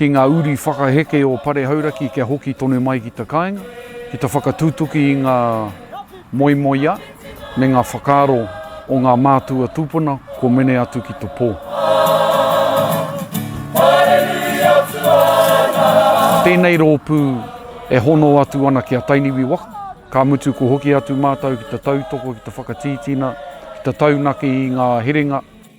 ki ngā uri whakaheke o Pare Hauraki kia hoki tonu mai ki te kāinga, ki te whakatutuki i ngā moemoeā me ngā whakaaro o ngā mātua tūpuna kua mene atu ki te pō. Tēnei rōpū e hono atu ana ki a Tainiwi waka, ka mutu kua hoki atu mātou ki te tautoko, ki te whakatītina, ki te taunaki i ngā herenga,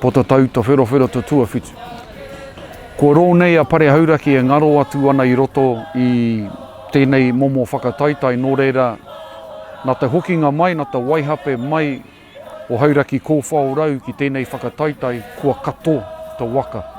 Pota Tauta Wherowhero te tuawhitu. Kua rou nei a Pare Hauraki e ngaro atu ana i roto i tenei momo whakataitai no reira na te hokinga mai, na te waihape mai o Hauraki Kowhao Rau ki tenei whakataitai kua kato te waka.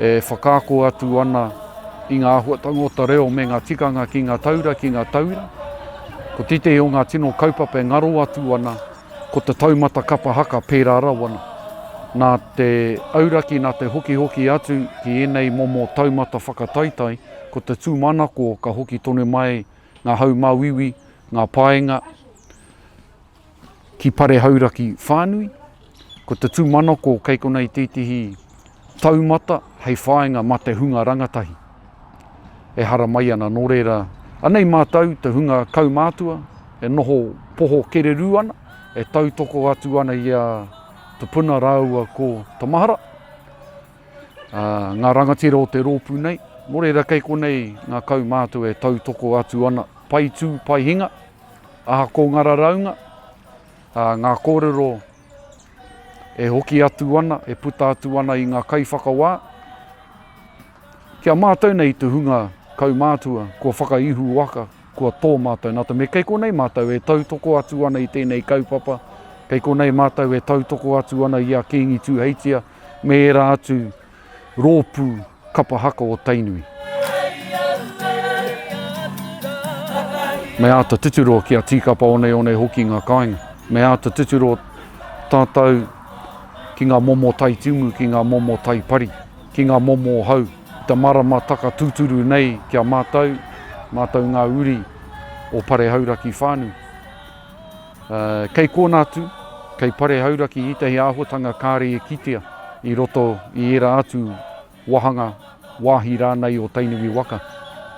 E whakaako atu ana i ngā āhuatanga o te reo me ngā tikanga ki ngā taura, ki ngā tauira. Ko tētehi o ngā tino kaupapa e ngaro atu ana, ko te taumata kapa haka pērā rawa nā. Nā te auraki, nā te hokihoki atu ki ēnei momo taumata whakataitai, ko te tūmanako ka hoki tonu mai ngā haumāuiui, ngā paenga, Ki Pare Hauraki whānui, ko te tūmanako kei konā i tētehi taumata hei whāinga mā te hunga rangatahi e haramai ana, nō reira, anei mātou te hunga kaumātua e noho poho kererū ana, e tautoko atu ana i a Te Puna rāua ko Te Mahara, ā, ngā rangatira o te rōpū nei, nō reira kei konei ngā kaumātua e tautoko atu ana, pai tū, pai hinga. Aha ko nga raraunga, nga korero e hoki atu ana, e puta atu ana i nga kaiwhakawa, ki a matou nei tu hunga kaumatua kua whakaihu waka, kua to matou na te mea kei konei matou e tautoko atu ana i tenei kaupapa, kei konei matou e tautoko atu ana i a Kingi Tuheitia me era atu Rōpū Kapa Haka o Tainui. Me āta tuturo kia tīkapa oneone hoki ngā kāinga. Me āta tuturo tātou ki ngā momo tai tumu, ki ngā momo tai pari, ki ngā momo hau. I te marama taka tūturu nei ki a mātou, mātou ngā uri o Pare Hauraki whānui. Kei kōna atu, kei pare hauraki ētahi āhuatanga kāre e kitea i roto i ērā atu wāhanga, wāhi rānei o Tainui waka.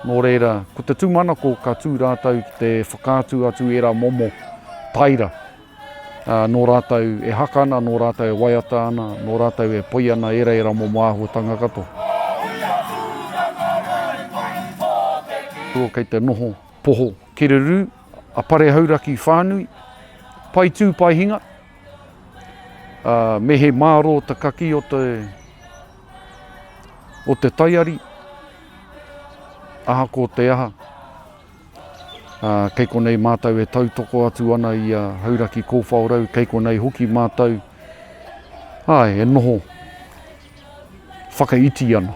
Nō reira, ko te tūmanako ka tū rātou ki te whakaatu atu ērā momo taira nō rātou e haka ana, nō rātou e waiata ana, nō rātou e poi ana ērā ērā momo āhuatanga katoa. Kei te noho poho kererū. A Pare Hauraki whānui, pai tū pai hinga, a me he mārō ta kakī o te o te taiari, aha ko te aha, a kei konei mātou e tautoko atu ana i a Hauraki Kōwhaorau, kei konei hoki mātou, āe, e noho whakaiti ana.